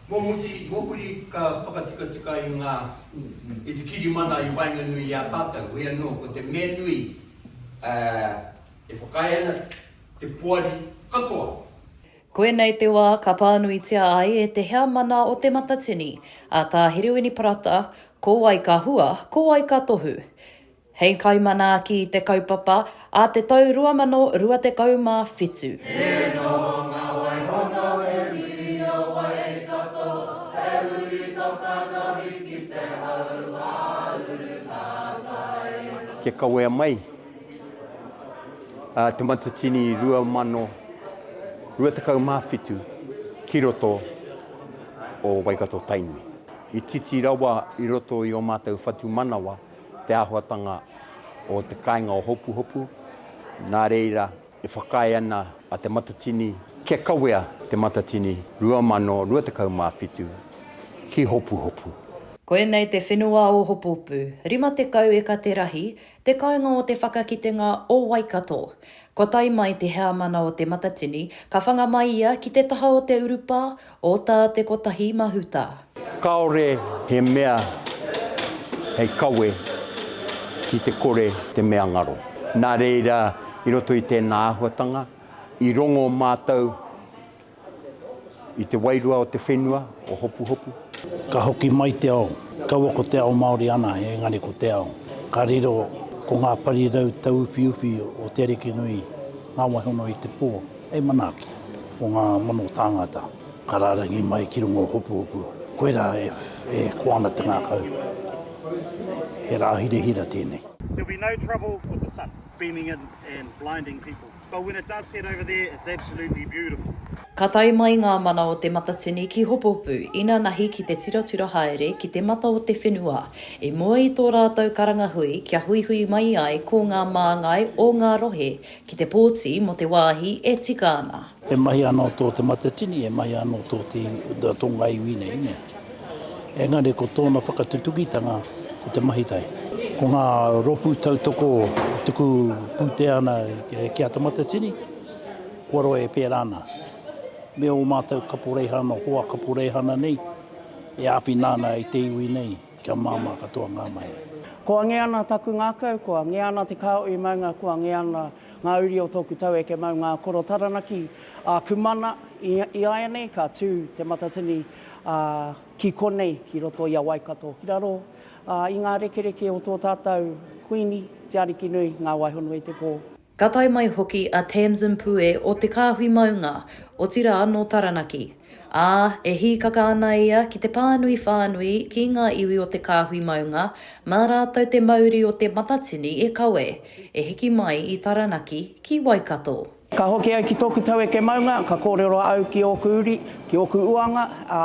Mō muti, mō muri ka whakatikatika i ngā, i te kirimana i waenganui i a tātou, hoi anō, ko te mea nui, ā, e whakaae ana te poari katoa. Koinei te wā ka pānuitia ai e te Heamana o Te Matatini, a Tā Herewini Parata, ko wai ka hua, ko wai ka tohu. Hei kaimanaaki i te kaupapa a te tau 2027. He noho ngā wai hono e whiria wai kato, he uri toka nohi ki te hau mā uru ngā kai. Kia kawea mai Te Matatini 2027 ki roto o Waikato-Tainui. I titi rawa i roto i ō mātou whatumanawa. te āhuatanga o te kāinga o Hopuhopu, nā reira e whakaae ana a Te Matatini kia kawea Te Matatini 2027 ki Hopuhopu. Koinei te whenua o Hopuhopu, 50 eka te rahi, te kāinga o te whakakitenga o Waikato. Kua tae mai te heamana o Te Matatini, ka whanga mai ia ki te taha o te urupā, O tā te kotahi mahuta. Kāore he mea hei kawe ki te kore te mea ngaro. Nā reira, i roto i tēnā āhuatanga, i rongo mātou i te wairua o te whenua, o Hopuhopu. Ka hoki mai te ao. Kaua ko te ao Māori ana, engari ko te ao ka riro ko ngā parirau tauwhiuwhi o te ariki nui, ngā waihono i te pō. Hei manaaki o ngā mano tāngata ka rārangi mai ki runga o Hopuhopu, koirā e koa ana te ngākau. He rā hirahira tēnei. There'll be no trouble with the sun beaming in and blinding people, but when it does set over there it's absolutely beautiful. Ka tae mai ngā mana o Te Matatini ki Hopuhopu, inanahi ki te tiratira haere ki te mata o te whenua, i mua i tō rātou karangahui kia huihui mai ai ko ngā māngai o ngā rohe Ki te pōti mō te wāhi e tika ana. E mahi anō tō Te Matatini, e mahi anō tō te tonga iwi nei, nē. Engari ko tōna whakatutukitanga ko te mahi tahi. Ko ngā rōpū tautoko tuku pūtea ana ki a Te Matatini, kua roa e pērā ana me ō mātou kaporeihana, hoa kaporeihana nei e āwhina ana i te iwi nei. Kia māmā katoa ngā mahi. Ko ange ana taku ngakau, ko ange ana te kao i maunga, ko ange ana nga uri o toku taueke mau nga koro taranaki a ku mana, iaianei ka tu te matatini a ki konei ki roto i a Waikato ki raro a i nga rekereke o to tatou Kuini, te Arikinui, nga Waihonui te po. Ka tae mai hoki a Tamzin Pue o Te Kāhui Maunga, otirā nō Taranaki, ā, e hīkaka ana ia ki te pānui whānui ki ngā iwi o Te Kāhui Maunga mā rātou te mauri o Te Matatini e kawe, e hiki mai i Taranaki ki Waikato. Ka hoki au ki tōku taueke maunga, ka kōrero au ki ōku uri, ki ōku uanga, ā,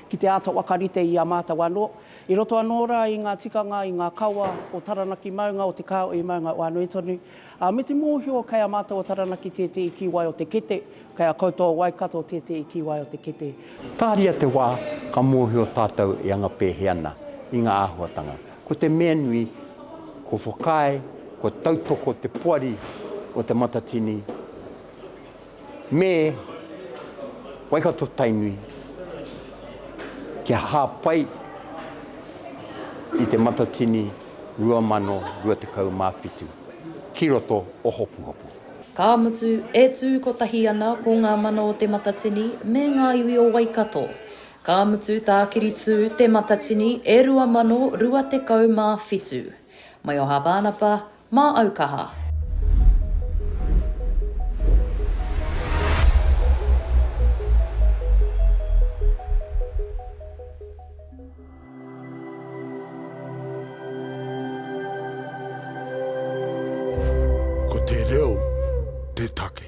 ki te āta whakarite i a mātou anō, i roto anō rā i ngā tikanga, i ngā kawa o Taranaki Maunga, o Te Kāhui Maunga o Anuitonu. Ā, me te mōhio kei a mātou o Taranaki tētehi kīwai o te kete, kei a koutou o Waikato tētehi kīwai o te kete. Tāria te wā ka mōhio tātou e anga pēhi ana i ngā āhuatanga. Ko te mea nui, kua whakaae, kua tautoko te poari o Te Matatini. me Waikato-Tainui kia hāpai i Te Matatini 2027 ki roto o Hopuhopu. Ka mutu, e tū kotahi ana ko ngā mana o Te Matatini me ngā iwi o Waikato. Ka mutu, tākiri tū Te Matatini e 2027. Mai o Hāpānapa, Mā au kaha. Ko te reo te take.